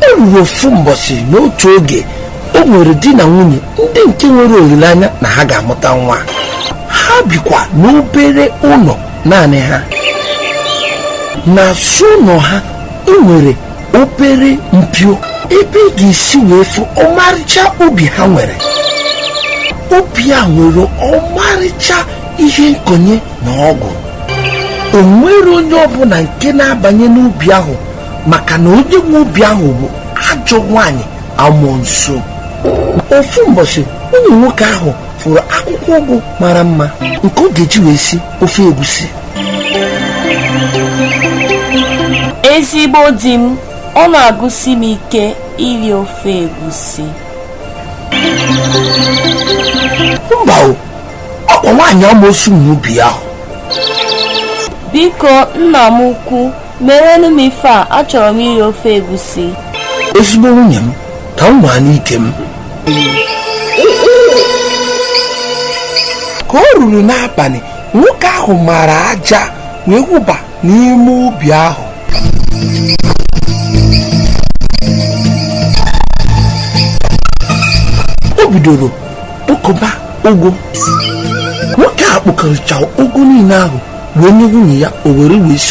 o ruru ofu mbọchị n'otu oge o nwere di na nwunye ndị nke nwere olileanya na ha ga-amụta nwa ha bikwa n'obere ụlọ naanị ha n'azụ ụlọ ha e nwere obere mpio ebe ị ga-esi wee fụ ọmarịcha ubi ha nwere ubi a nwere ọmarịcha ihe nkonye na ọgwụ o nwere onye ọbụla nke na-abanye n'ubi ahụ maka na onye nwe ubi ahụ bụ ajọ nwanyị amoosu ofu mbọchị nwunye nwoke ahụ fụrụ akwụkwọ ụgụ mara mma nke ọ ga-eji wee si ofe egusi ezigbo di m ọ na-agụsi m ike iri ofe egusi mba o ọkwa nwaanyị amoosu nwe ubi ahụ biko nna m ukwu merenụ m ife a achọrọ m iri ofe egusi ezigbo nwunye m ka m nwaanụ ike m ka o ruru n'abalị nwoke ahụ mara aja wee wụba n'ime ubi ahụ o bidoro kpokọba ụgụ nwoke a kpokọrọcha ụgụ niile ahụ wee nye nwunye ya o were wee si